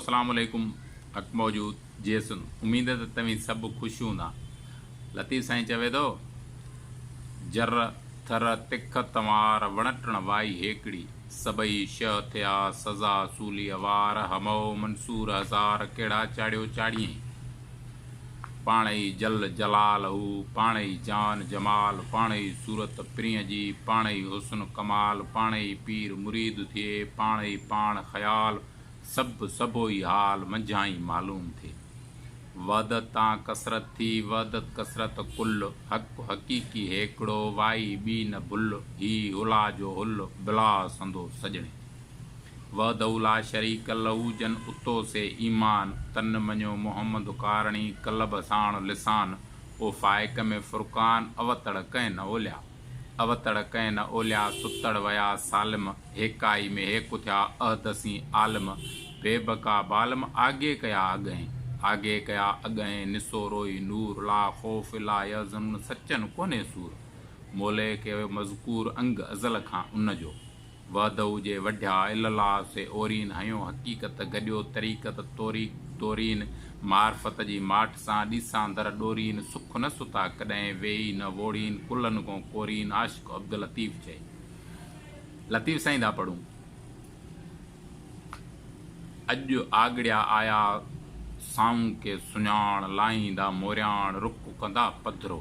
اسلام عليڪم حق موجود جيسن اميد ته توهين سڀ خوش هوندا لطيف سائين چوي ٿو جر ٿر تک تنوار وڻ ٽڻ وائي هيڪڙي سڀئي شهه ٿيا سزا سولي اوار همئو منصور هزار ڪهڙا چاڙهيو چاڙهيئين پاڻ ئي جل جلال هو پاڻ ئي جان جمال پاڻ ئي صورت پرينء جي پاڻ ئي حسن ڪمال پاڻ ئي پير مريد ٿئي پاڻ ئي پاڻ خيال سڀ سڀوئي حال منجهانئين معلوم ٿئي. وحدت تان ڪثرت ٿي، وحدت ڪثرت ڪل. حق حقيقي هيڪڙو، وائي ٻي نه ڀل. هي هلا جو هل، بلا سندو سڄڻي. وحده لا شريڪ له، جن اتو سي ايمان. تن مڃيو محمد ڪارڻي، قلب ساڻ لسان. او فائق ۾ فرقان، اوتڙ ڪنهن نه اوليا. اوتڙ ڪئين نه اوليا ستڙ ويا سالم هيڪائي ۾ هيڪ اٿيا احدثين عالم بي بقا بالم آگي ڪيا اڳهين آگي ڪيا اڳهين نسو روئي نور لا خوف لا يحزنون سچن ڪونهي سور مولئي ڪيو مذڪور انگ ازل کان ان جو وحدهو جي وڍيا الاله سي اورين هنيو حقيقت گڏيو طريقت طوريق دورين معرفت جي ماٺ سان ڏيساندر ڏورين سک نه ستا ڪڏهن ويهي نه ووڙين ڪلهن گون ڪورين عاشق عبداللطيف چئي لطيف سائين ٿا پڙهون اڄ آڳڙيا آيا سائون ڪي سڃاڻ لاهيندا مورياڻ رڪ ڪندا پڌرو.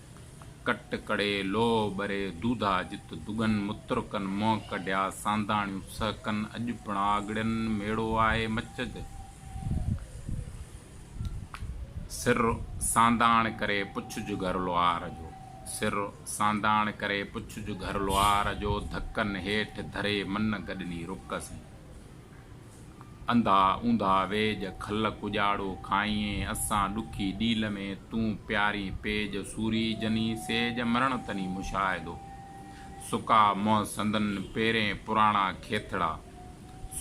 ڪٽ ڪڙي لوهه ٻري دودها جت دڳن مترڪن منهن ڪڍيا سانڌاڻيون سهڪن اڄ پڻ آڳڙين ميڙو آهي مچج سر سانڌاڻ ڪري پڇج گهر لوهار جو سر سانڌاڻ ڪري پڇج گهر لوهار جو ڌڪن هيٺ ڌري من گڏني رڪ سين. انڌا اوندھا ويڄ، کل ڪڄاڙو کائينء اسان ڏکي ڏيل ۾، تون پيارين پيڄ، سوري جنين سيڄ، مرڻ تنين مشاهدو. سڪا منهن سندن پيرين پراڻا کيٿڙا،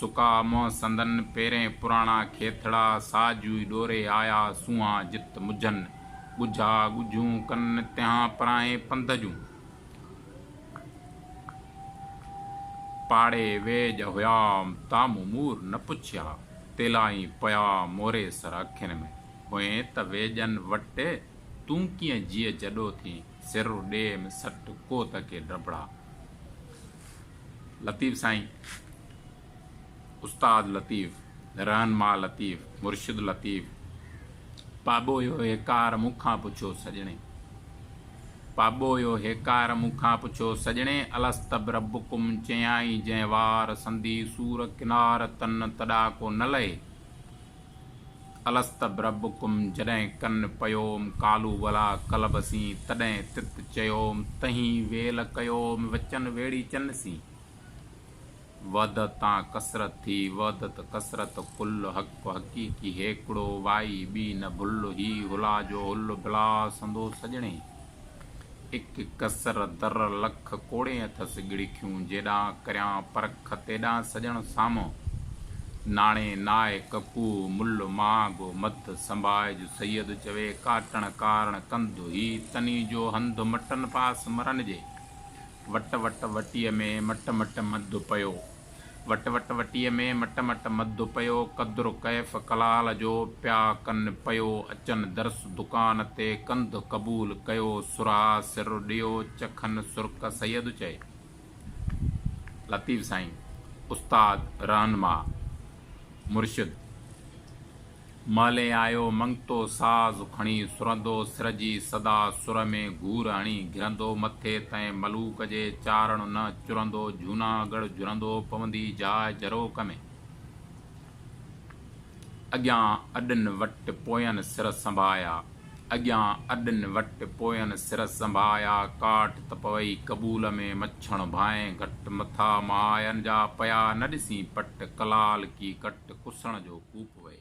سڪا منهن سندن پيرين پراڻا کيٿڙا، ساجوئي ڏوري آيا سونهان جت مجھن، ڳجھا ڳجھون ڪن تنهان پراهين پنڌ جون. پاڙي ويڄ هيام تام امور نه پڇيا، تيلائين پيا موري سر اکين ۾، هئين ته ويڄن وٽ تون ڪيئن جيء جڏو ٿين، سر ڏيم سٽ ڪو ته ڪي ڊڀڙا. لطيف سائين! استاد لطيف، رهنما لطيف، مرشد لطيف، پاٻوهيو هيڪار مون کان پڇو سڄڻي! پاٻوهيو هيڪار مون کان پڇو سڄڻي! الست بربڪم چيائين جنهن وار، سندي سور ڪنار تن تڏا ڪو نه لهي! الست بربڪم جڏهن ڪن پيوم ڪالو ولا ڪلب سين تڏهن تت چيوم تهين ويل ڪيوم وچن ويڙي چن سين! وحدت تان ڪثرت ٿي، وحدت ڪثرت ڪل حق حقيقي هيڪڙو، وائي ٻي نه ڀل، هي هلا جو هل ڀلا سندو سڄڻي، اک ڪثر در لک ڪوڙين اٿس ڳڙکيون، جيڏانهن ڪريان پرک تيڏانهن سڄڻ سامهون، ناڻي نائي ڪڪوهه مل مهانگو مڌ، سنڀائج سيد چوي ڪاٽڻ ڪارڻ ڪنڌ، هي تني جو هنڌ مٽن پاس مرن جي، وٽ وٽ وٽيء ۾ مٽ مٽ مڌ پيو. وٽ وٽ وٽيء ۾ مٽ مٽ مڌ پيو، قدر ڪيف ڪلال جو پيا ڪن پيو اچن درس دڪان تي ڪنڌ قبول ڪيو سرها سر ڏيو چکن سرڪ سيد چئي. لطيف سائين استاد رهنما مرشد. مالهي آيو منگتو ساز کڻي سرندو سر جي سدا سر ۾ گهور هڻي گهرندو مٿي تئين ملوڪ جي چارڻ نه چرندو جهوناڳڙهه جهرندو پوندي جاء جروڪ ۾، اڳيان اڏن وٽ پوين سر سنبايا. اڳيان اڏن وٽ پوين سر سنڀايا ڪاٺ ته پوي قبول ۾ مڇڻ ڀانء گهٽ مٿا ماين جا پيا نه ڏسين پٽ ڪلال ڪي ڪٽ ڪسڻ جو ڪوپ وئي.